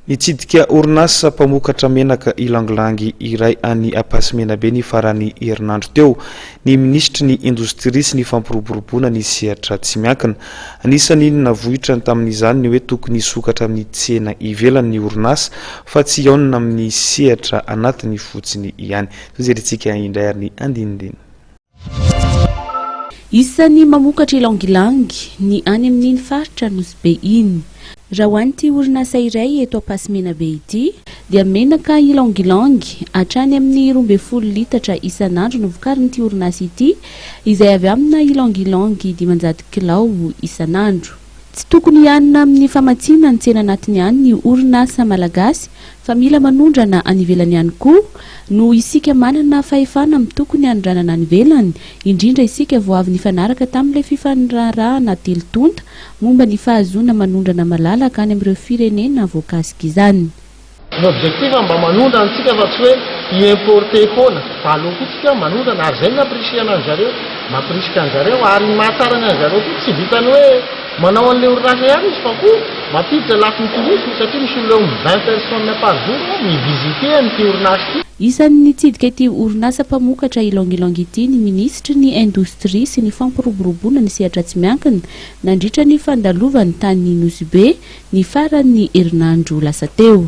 Nitsidika orinasa mpamokatra menaka ylang-ylang iray any Ampasimenabe ny faran'ny herinandro teo ny minisitry ny Indostria sy ny fampiroboroboana ny sehatra tsy miankina. Anisan'ny navoitrany tamin'izany ny hoe tokony hisokatra amin'ny tsena ivelany ny orinasa fa tsy hihaonana amin'ny sehatra anatiny fotsiny ihany. Izao jerentsika indray ary ny andinindiny. Isan'ny mamokatra ylang-ylang ny any amin'iny faritra Nosy Be iny. Raha ho an'ity orinasa iray eto Ampasimenabe ity, dia menaka ylang-ylang hatrany amin'ny roa ambin'ny folo litatra isan'andro no vokarin'ity orinasa ity izay avy amina ylang-ylang dimanjato kilao isan'andro. Tsy tokony hianina amin'ny famatsiana ny tsena anatiny ihany ny orinasa malagasy fa mila manondrana any ivelany ihany koa, noho isika manana fahefana amin'ny tokony hanondranana any ivelany, indrindra isika vao avy nifanaraka tamin'ilay fifaniraharahana telo tonta momba ny fahazoana manondrana malalaka any amin'ireo firenena voakasik'izany. Ny objectif mba manondrana antsika fa tsy hoe hi importer foana fa aleo koa tsika manondrana ary zay no appriciena ny zareo maprisika ny zareo ary ny mahatsara ny an zareo koa tsy vitany hoe manao anle orinasa ihany izy fa koa mampiditra lafiny tourisme satria misy olona eo amin'ny vingt personnes par jour hoe mi visiter an ity orinasa ity. Isan'ny nitsidika ity orinasa mpamokatra Ylang Ylang ity ny minisitry ny indostria sy ny fampiroboroboana ny sehatra tsy miankina, nandritra ny fandalovany tany Nosy Be ny faran'ny herinandro lasa teo.